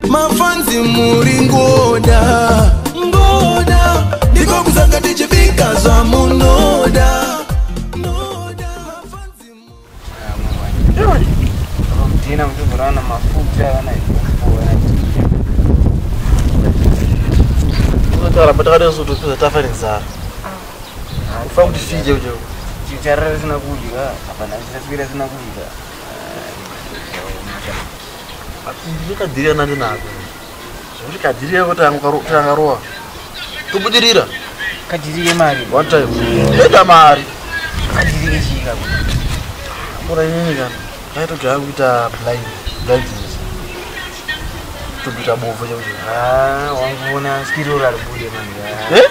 mafanzi muri ngoda ngoda ndiko kuzanga tichibika zvamunoda Dina mtuvurana mafuta yana Tara patakada kusutu tuza tafa nenzara. Ufa kuti fije ujo. Chichara sina kudya, hapana chichaswira sina kudya. ndikadhirira nani nako zvekuti kadhirira kuti angarowa tobudirira kadhirire mari one time enda mari kadhirire chika mura inini kana ndaitogera kuita blind blindness tokuita bovo chekuti wanguona skirora ribude manje eh?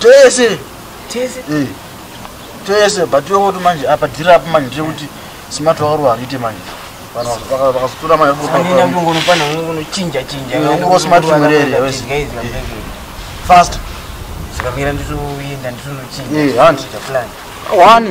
tese tese eh. tese but iwe kuti manje apa dhiri apo manje ndekuti smart wakaruwa hariite manje vakazotora maefast zvikamira nditoenda nditonochiaakawani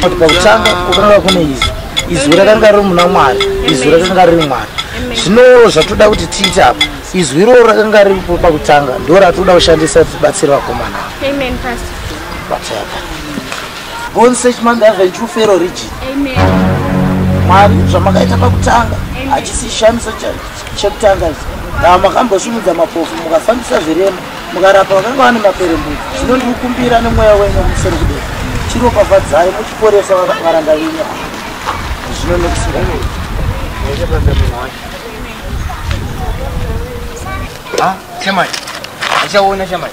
pakutanga kukanga kune izwi izwi rakanga riri muna mwari izwi rakanga riri mwari zvino zvatoda kuti tiite apa izwi iroro rakanga riri pakutanga ndo ratoda kushandisa tibatsire vakomana ava Born search man have a true fero region. Amen. Mwari zvamakaita pakutanga hachisi shamiso chekutanga ichi. Dava makambosimudza mapofu mukafambisa zvirema mukarapa vakanga vane maperembudzi zvino ndikukumbira nemweya wenyu musoro kudei chiropafadzai muchiporesa varanda venyu zvino nekusinga ah, chamai achaona chamai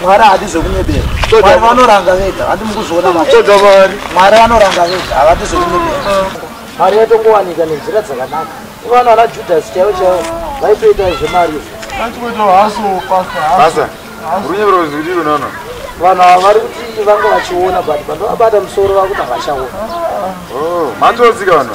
mwari haadi zvekunyebera mwari vanoranga vega handi mukuzviona maoda mwari mwari vanoranga vega havadi zvekunyebera mari yatokuwanika nenzira dzakanaka ivana ana judhasi chaivo chaivo vaitoita zvemari vanhu ava vari kuti vanga vachiona but pandovabata musoro vakuti havachaona oh, matodzika vanhu